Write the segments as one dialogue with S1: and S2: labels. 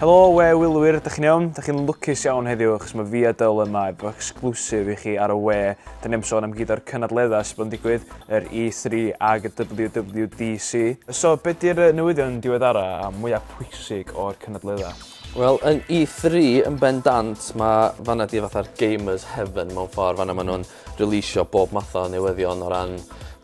S1: Helo, we wylwyr, ydych chi'n iawn? Ydych chi'n lwcus iawn heddiw, achos mae fi a Dyl yma efo exclusive i chi ar y we. Da ni am sôn am gyd o'r cynadleddau sydd bod yn digwydd, yr E3 ag y WWDC. So, be di'r newyddion diweddara a mwyaf pwysig o'r cynadleddau? Wel, yn
S2: E3 yn bendant, mae fanna di fatha'r gamers heaven mewn ffordd. Fanna maen nhw'n releisio bob math o newyddion o ran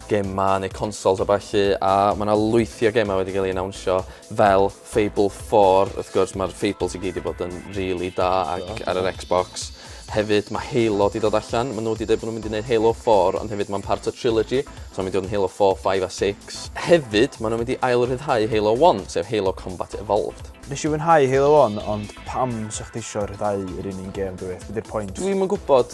S2: gemau neu consoles a ballu a mae yna lwythi o gemau wedi cael ei anawnsio fel Fable 4 wrth gwrs mae'r Fables i gyd wedi bod yn really da ac oh, ar yr Xbox hefyd mae Halo wedi dod allan maen nhw wedi dweud bod nhw'n mynd i wneud Halo 4 ond hefyd mae'n part o trilogy so mae'n mynd i fod yn Halo 4, 5 a 6 hefyd maen nhw'n mynd i ail rhyddhau Halo 1 sef Halo Combat Evolved Nes i fwynhau Halo
S1: 1, ond pam sech chi eisiau rhyddhau yr un un gêm dwyt? Beth yw'r pwynt? Dwi'm yn gwybod.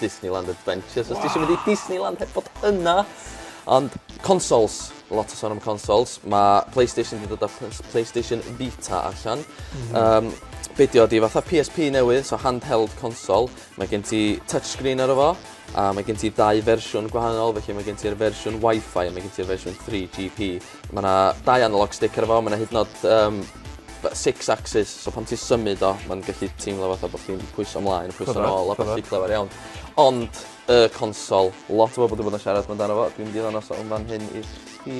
S2: Disneyland Adventures. Os ti eisiau mynd i Disneyland heb bod yna. Ond consoles, lot o son am consoles. Mae PlayStation wedi dod â PlayStation Vita allan. Mm -hmm. um, be di o di fatha PSP newydd, so handheld console. Mae gen ti touchscreen ar efo, a mae gen ti dau fersiwn gwahanol, felly mae gen ti'r fersiwn Wi-Fi a mae gen ti'r fersiwn 3GP. Ma' 'na dau analog stick ar y fo ma' 'na hyd yn o'd yym b- six axis so pan ti symud o ma'n gellu teimlo fatha bo' chdi'n pwyso mlaen pwyso nôl a ballu clefar iawn. Ond y consol lot o bobol 'di bod yn siarad amdano fo dwi'n mynd i ddangos o yn fan hyn i chi.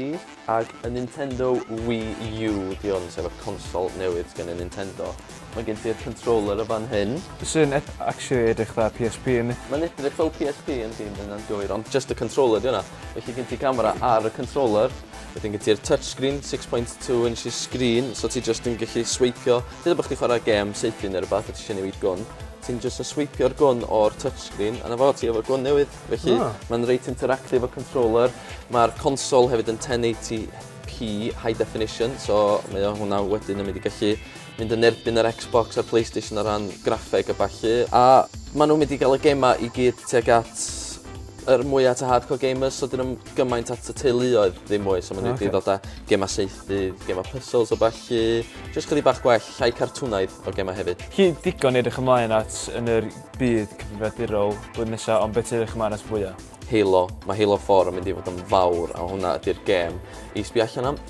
S2: Ag y Nintendo Wii U 'di 'on sef y consol newydd sgen y Nintendo. Ma' gen ti'r controller y fan hyn. Sy'n ep-
S1: actually edrych 'tha Pee Ess Pee yndi? Ma'n edrych fel Pee Ess
S2: Pee yndi ma' ynna'n gywir ond jyst y controller 'di wnna. Felly gen ti camera ar y controller, wedyn gen ti'r touchscreen, 6.2 inches screen, so ti jyst yn gallu sweipio, dydw bod chdi chwarae gem seithi neu rhywbeth, a ti eisiau newid gwn, ti'n jyst yn sweipio'r gwn o'r touchscreen, a na fo ti efo gwn newydd, felly oh. mae'n reit interactive o controller, mae'r console hefyd yn 1080p high definition, so mae o hwnna wedyn yn mynd i gallu mynd yn erbyn yr Xbox a'r Playstation o ran graffeg a ballu. A maen nhw'n mynd i gael y gemau i gyd tuag at yr mwyaf at y hardcore gamers, so dyn nhw'n gymaint at y teuluoedd ddim mwy, so maen nhw wedi ddod â gemau seithi, gemau puzzles o ballu, jyst chydig bach gwell, llai cartwnaidd o gemau hefyd. Chi digon i edrych
S1: ymlaen at yn yr byd cyfrifiadurol blwyddyn nesaf, ond beth sy'n edrych ymlaen at fwyaf? Halo. Mae Halo
S2: 4 yn mynd i fod yn fawr, a hwnna ydy'r gêm i sbio allan am.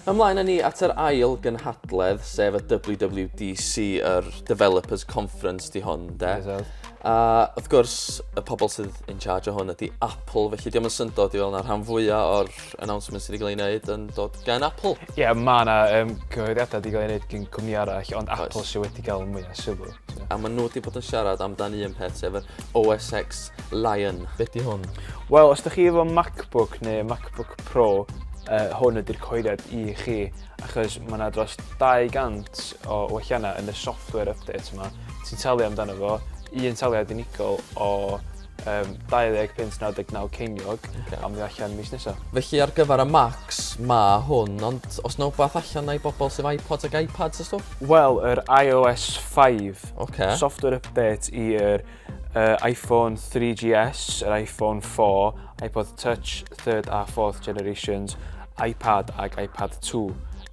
S2: Ymlaen â ni at yr ail gynhadledd, sef y WWDC, yr Developers Conference 'di hwn, de? It is. A wrth gwrs, y pobl sydd in charge o hwn ydy Apple, felly diolch yn syndod i fel yna rhan fwyaf o'r announcements sydd wedi cael ei wneud yn dod gan Apple. Ie, yeah, mae yna
S1: um, cyhoeddiadau wedi cael ei wneud gen cwmni arall, ond Apple sydd wedi cael mwyaf sylw. A maen nhw wedi bod
S2: yn siarad amdan un peth, sef yr OSX Lion. Beth di hwn? Wel, os da chi efo
S1: MacBook neu MacBook Pro, uh, hwn ydy'r coediad i chi, achos mae yna dros 200 o welliannau yn y software update yma. Ti'n talu amdano fo, un taliad unigol o Yym, 20 punt 99 ceiniog, a mi allan mis nesa. Felly ar gyfer y
S2: Macs, ma hwn, ond os na wbath allan na i bobl sydd iPods ac iPads a stwff? Wel, yr
S1: iOS 5. Ok. Software update i yr uh, iPhone 3GS, yr iPhone 4, iPod Touch 3rd a 4th generations, iPad ac iPad 2.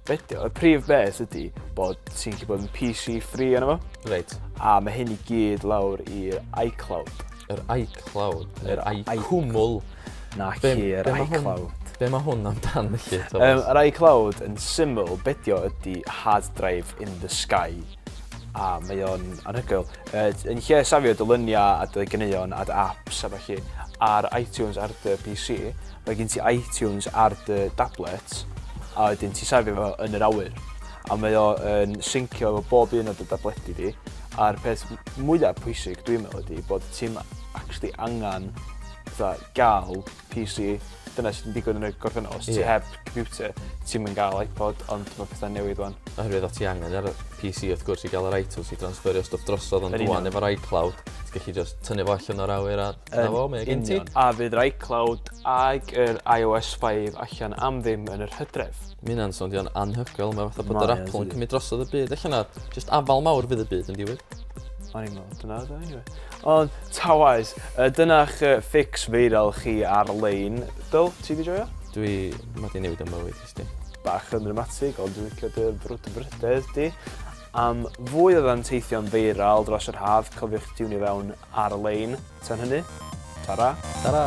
S1: Fideo. Y prif beth ydy bod ti'n gallu bod yn PC free yna fo. Reit. A mae
S2: hyn i
S1: gyd lawr i'r iCloud. Yr
S2: iCloud, yr iCwmwl. Na chi,
S1: yr iCloud. Be mae hwn
S2: amdan felly, Thomas? Um, yr iCloud
S1: yn syml, bedio ydy hard drive in the sky. A mae o'n anhygoel. Uh, yn lle safio dy lyniau a dy gyneuon a dy apps a falle ar iTunes ar dy PC, Mae gen ti iTunes ar dy dablet a wedyn ti'n safio fo yn yr awyr a mae o yn syncio efo bob un o dy dabledi di a'r peth mwyaf pwysig dwi'n meddwl ydy bod ti'n actually angen fatha gael PC dyna sy'n digwydd yn y gorffennol os ti heb computer ti'n mynd gael iPod ond mae pethau'n newid wan. Oherwydd o ti angen ar
S2: PC wrth gwrs i gael yr iTunes i transferio stwff drosodd ond rwan efo'r iCloud ti'n gallu just tynnu fo allan o'r awyr a Yn fo, mae o gen ti. A fydd yr iCloud
S1: ag yr iOS 5 allan am ddim yn yr hydref? Mae hynna'n soundio'n
S2: anhygoel, mae fatha bod yr Apple yn cymryd drosodd y byd. Allan na, just afal mawr fydd y byd yn diwyd. O'n i'n
S1: meddwl, dyna dda anyway. Ond, ta waes, dyna'ch ffix feiral chi ar-lein. Dyl, ti di joio? Dwi, mae di newid
S2: am mywyd, ysdi. Bach yn dramatig,
S1: ond dwi'n licio dy frwdfrydedd di. Am fwy o fanteithion feiral dros yr haf, cofiwch tiwnio fewn ar-lein. Tan hynny, ta-ra! Ta-ra!